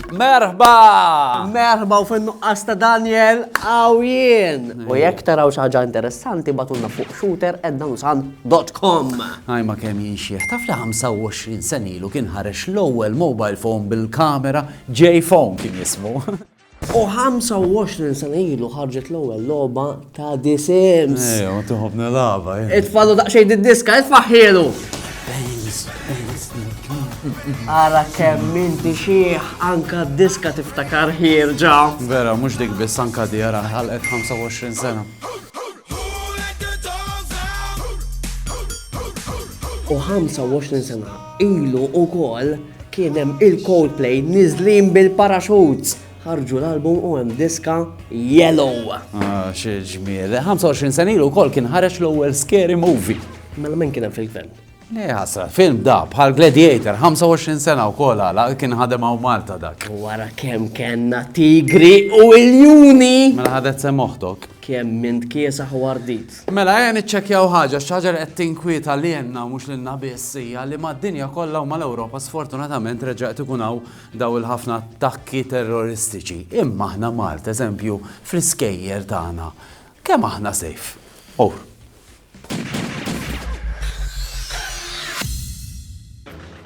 Merħba! Merħba u fin nuqqas ta' Daniel għawjen. U jekk taraw xaġa interessanti batunna fuq shooter eddansan.com. Għajma kem jinxieħ, taf li 25 senilu kien ħarex l-ewwel mobile phone bil-kamera Jay Fong kien jismu. U 25 sena ilu ħarġet l-ewwel logħba ta' The Sims. Ejja, ma tieħu b'nilaba. Itfallu daqsxejn id-diska, itfaħħielu. Ara kemm inti xieħ anka d-diska tiftakar ħirġa. Vera, mhux dik biss anka di ara ħalqet 25 sena. U 25 sena Ilu ukoll kien hemm il-Coldplay niżlin bil-parachutes ħarġu l-album u hemm diska Yellow. Ah, xi ġmiel. 25 sen ilu wkoll kien ħareġ l-ewwel scary movie. Mela min kien hemm fil-gvern? Le ħasra, film da, bħal Gladiator, 25 sena u kol għala, kien ħadem għaw Malta dak. Wara kem kenna tigri u iljuni! Mela ħadet sem oħtok. Kem mint kiesa ħwardit. Mela ejja niċċekkjaw ħaġa, għax xi ħaġa li qed tinkwieta lilna u mhux lilna biss hija li mad-dinja kollha u mal-Ewropa sfortunatament reġa' qed ikun hawn dawn il-ħafna attakki terroristiċi. Imma aħna Malta, eżempju, fl-iskejjer tagħna, kemm aħna safe? Ur.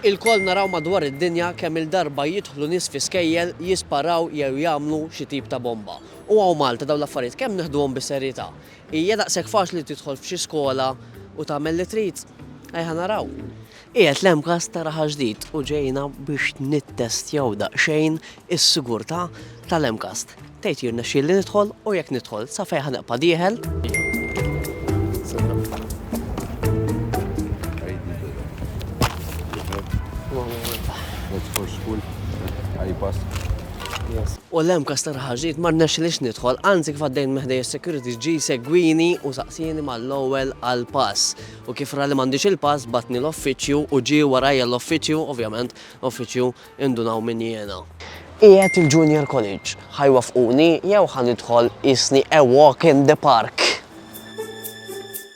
Ilkoll naraw madwar id-dinja kemm-il darba jidħlu nies fi skejjel, jisparaw jew jagħmlu xi tip ta' bomba. U hawn Malta dawn l-affarijiet kemm neħduhom bis-serjetà? Hija daqshekk faċli tidħol f'xi skola u tagħmel li trid? Ejja naraw. Qiegħed l-MCAST tara ħaġdid u ġejna biex nittestjaw daqsxejn is-sigurtà tal-MCAST. Tgħid jirnexxieli nidħol u jekk nidħol sa fejn ħa nibqa' dieħel? U l-hemm każ ta' Raħal Ġdid ma rnexxilix nidħol, anzi kif għaddejt minn ħdejja s-security ġie jsegwini u saqsieni mal-ewwel għall-pass. U kif ra li m'għandix il-pass bagħatni l-offiċju u ġie warajja l-offiċju, ovvjament l-offiċju indunaw min jiena. Qiegħed il-junior college, ħa jwaffquni jew ħa nidħol qisni a walk in the park!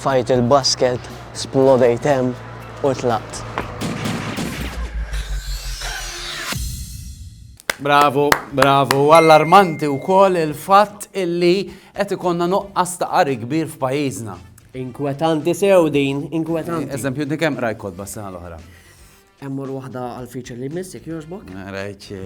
Tfajt il-basket, splodejt hemm u tlaqt. Bravu, bravu. Allarmanti wkoll il-fatt illi qed ikonna nuqqas ta' qari kbir f'pajjiżna. Inkwetanti sew din, inkwetanti. Eżempju, dik hemm rajt kodba s-sena l-oħra. Emmur waħda għal feature li miss, jek joġbok? Rajċe,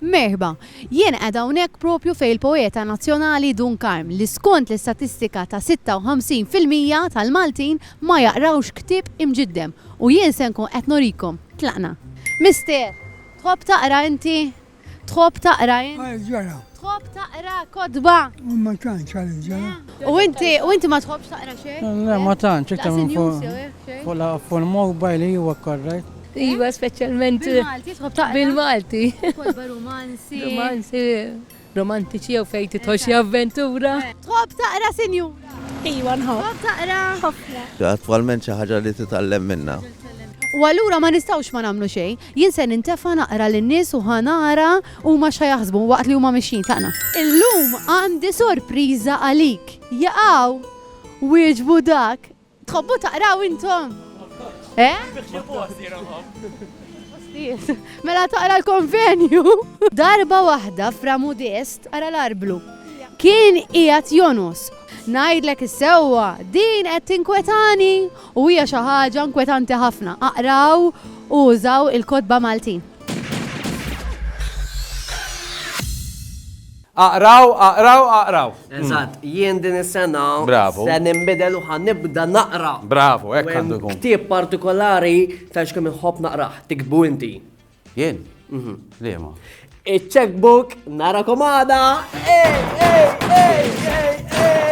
Merħba, jien qed hawnhekk propju fejn il-poeta nazzjonali Dun Karm li skont l-istatistika ta' 56% tal-Maltin ma jaqrawx ktieb imġiddem u jien se nkun qed norikom. Tlaqna. Mister, tħobb taqra inti? Tħobb taqra int? Għal ġara. Tħobb taqra kotba? Ma tantx għal ġara. U inti, u inti ma tħobbx taqra xejn? Le, ma tantx, iktar minn fuq. Fuq la fuq il-mobile li huwa korrekt. Iva, speċjalment. Bil-Malti, tħobb taqra? Bil-Malti. Kotba romanzi. Romanzi, romantiċi jew fejn titħol xi avventura. Tħobb taqra sinjura? Iva, nħobb. Tħobb taqra? Ħafna. Attwalment xi ħaġa li titgħallem minnha. U allura ma nistgħux ma nagħmlu xejn. Jien se nintefa' naqra lin-nies u ħa nara huma x'ħa jaħsbu waqt li huma mixjin. Tlaqna. Illum għandi sorpriża għalik. Jaqaw! wieġbu dak. Tħobbu taqraw intom? Eh? Postijiet. Mela taqra l-konvenju. Darba waħda Fra Mudest ara l-arblu. Kien qiegħed jonos. Ngħidlek is-sewwa, din qed tinkwetani! U hija xi ħaġa nkwetanti ħafna. Aqraw u użaw il-kotba Maltin. Aqraw, aqraw, aqraw. Eżatt, jien din is-sena se ninbidel u ħa nibda naqra. Bravu, hekk għandu jkun. Ktieb partikolari tgħidx kemm inħobb naqrah, tiktbu inti. Jien? Mhm. Liema. Iċ-checkbook nara komada. Ej, ej, ej, ej, ej.